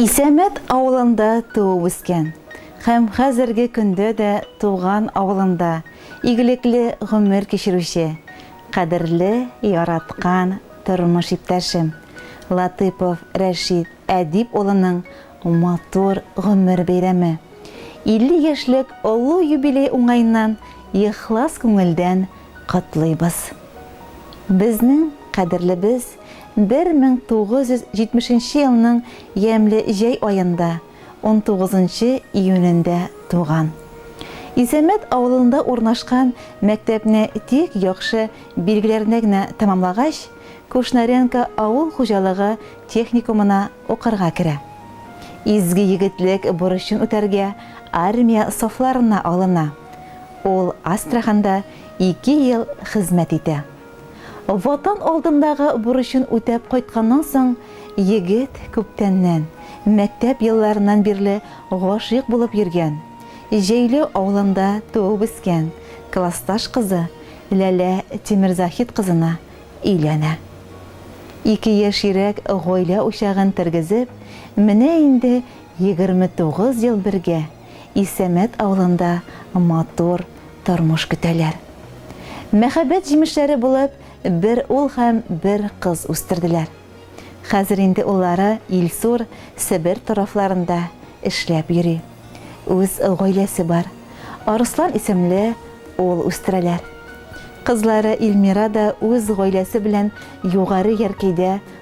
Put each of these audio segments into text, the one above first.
Исәмәт авылында туып-үскән һәм хәзерге көндә дә туган авылында игелекле гомер кичерүче кадерле, яраткан тормыш иптәшем Латыйпов Рәшит Әдип улының матур гомер бәйрәме, 50 яшьлек олы юбилей уңаеннан ихлас күңелдән котлыйбыз. Безнең кадерлебез! 1970 нче елның ямьле җәй аенда, 19 нчы июнендә туган. Исәмәт авылында урнашкан мәктәпне тик яхшы билгеләренә генә тәмамлагач, Кушнаренко авыл хуҗалыгы техникумына укырга керә. Изге егетлек бурычын үтәргә армия сафларына алына. Ул Астраханда ике ел хезмәт итә. Ватан алдындагы бурычын үтәп кайтканнан соң, егет күптәннән, мәктәп елларыннан бирле гашыйк булып йөргән, Җәйләү авылында туып-үскән классташ кызы Ләлә Тимерзаһит кызына өйләнә. Ике яшьйрәк гаилә учагын тергезеп, менә инде 29 ел бергә Исәмәт авылында матур тормыш көтәләр. Мәхәббәт җимешләре булып бер ул һәм бер кыз үстерделәр. Хәзер инде уллары Илсур Себер тарафларында эшләп йөри. Үз гаиләсе бар. Арыслан исемле ул үстерәләр. Кызлары Илмира да үз гаиләсе белән Югары Яркәйдә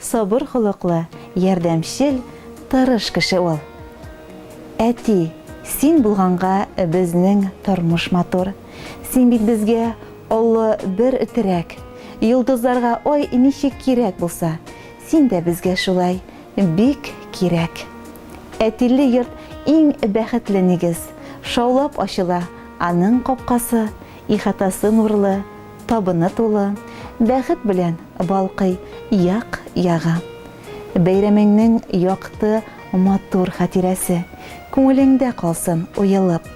Сабыр холыклы, ярдәмчел, тырыш кеше ул. Әти, син булганга безнең тормыш матур. Син бит безгә олы бер терәк. Йолдызларга ай ничек кирәк булса, син дә безгә шулай бик кирәк. Әтиле йорт иң бәхетле нигез. Шаулап ачыла аның капкасы, Ихатасы нурлы, табыны тулы, Бәхет белән балкый як-ягы. Бәйрәмеңнең якты, матур хатирәсе Күңелеңдә калсын уелып.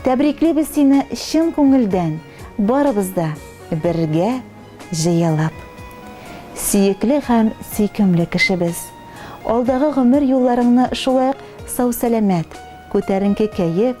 Тәбриклибез сине чын күңелдән, Барыбыз да бергә җыелып. Сөекле һәм сөйкемле кешебез! Алдагы гомер юлларыңны шулай ук сау-сәламәт, күтәренке кәеф,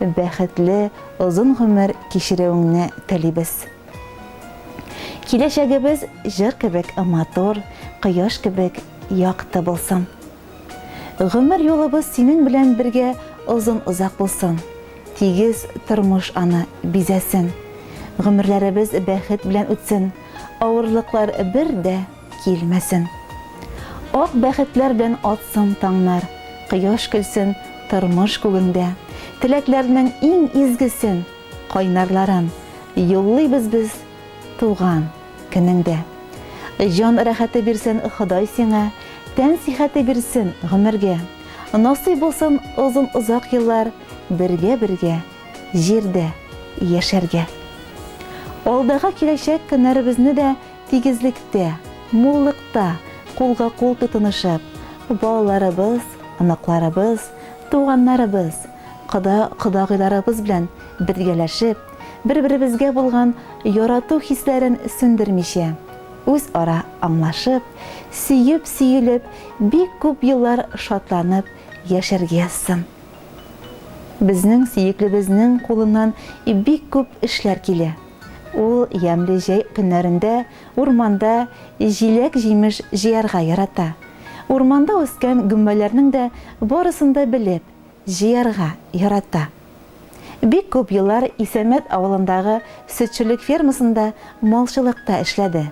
Бәхетле, озын гомер кичерүеңне телибез. Киләчәгебез җыр кебек матур, кояш кебек якты булсын. Гомер юлыбыз синең белән бергә озын-озак булсын. Тигез тормыш аны бизәсен. Гомерләребез бәхет белән үтсен. Авырлыклар бер дә килмәсен. Ак бәхетләр белән атсын таңнар, Кояш көлсен тормыш күгеңдә. Теләкләрнең иң изгесен, кайнарларын Юллыйбыз без туган көнеңдә. Җан рәхәте бирсен Ходай сиңа, Тән сихәте бирсен гомергә. Насыйп булсын озын-озак еллар Бергә-бергә җирдә яшәргә. Алдагы киләчәк көннәребезне дә Тигезлектә, муллыкта кулга-кул тотынышып, балаларыбыз, оныкларыбыз, туганнарыбыз, кода-кодагыйларыбыз белән бергәләшеп, бер-беребезгә булган ярату хисләрен сүндермичә, үзара аңлашып, сөеп-сөелеп бик күп еллар шатланып яшәргә язсын. Безнең сөеклебезнең кулыннан бик күп эшләр килә. Ул ямьле җәй көннәрендә урманда җиләк-җимеш җыярга ярата. Урманда үскән гөмбәләрнең дә барысын да белеп, җыярга ярата. Бик күп еллар Исәмәт авылындагы сөтчелек фермасында малчылыкта эшләде.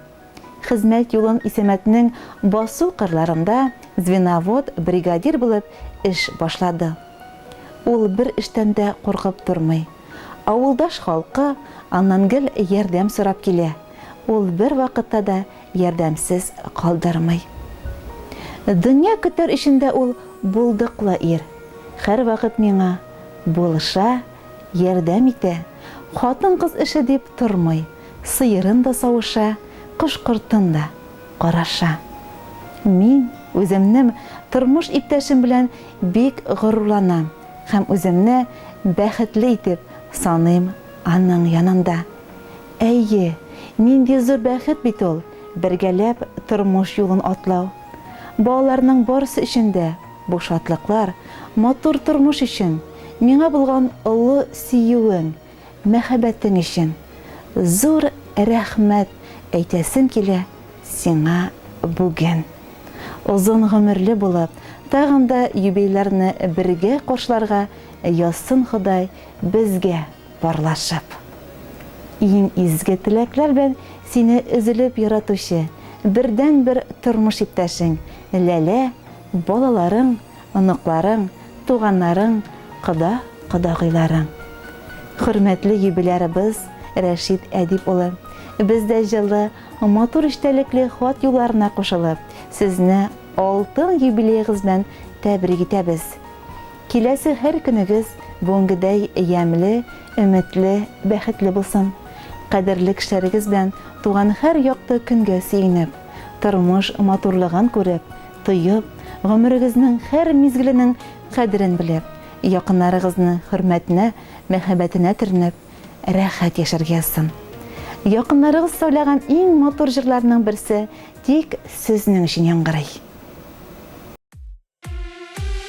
Хезмәт юлын Исәмәтнең басу кырларында звеновод, бригадир булып эш башлады. Ул бер эштән дә куркып тормый. Авылдаш халкы аннан гел ярдәм сорап килә, ул бервакытта да ярдәмсез калдырмый. Дөнья көтәр өчен дә ул булдыклы ир, һәрвакыт миңа булыша, ярдәм итә, хатын-кыз эше дип тормый, сыерын да савыша, кош-кортын да караша. Мин үземнем тормыш иптәшем белән бик горурланам. Һәм үземне бәхетле итеп саныйм аның янында. Әйе, нинди зур бәхет бит ул, бергәләп тормыш юлын атлау! Балаларның барысы өчен дә бу шатлыклар, матур тормыш өчен, миңа булган олы сөюең, мәхәббәтең өчен зур рәхмәт әйтәсем килә сиңа бүген. Озын гомерле булып, тагын да юбилярны бергә коршларга язсын Ходай безгә парлашып. Иң изге теләкләр белән сине өзелеп яратучы, бердәнбер тормыш иптәшең, Ләлә, балаларың, оныкларың, туганнарың, кода, кодагыйларың. Хөрмәтле юбилярыбыз Рәшит Әдип улы, без дә җылы, матур эчтәлекле хат юлларына кушылып, сезне алтын юбилеегыз белән тәбрик итәбез. Киләсе һәр көнегез бүгенгедәй ямьле, өметле, бәхетле булсын. Кадерле кешеләрегез белән туган һәр якты көнгә сөенеп, тормыш матурлыгын күреп, тоеп, гомерегезнең һәр мизгеленең кадерен белеп, якыннарыгызны хөрмәтенә, мәхәббәтенә төренеп, рәхәт яшәргә язсын. Якыннарыгыз сайлаган иң матур җырларның берсе тик сезнең өчен яңгырый.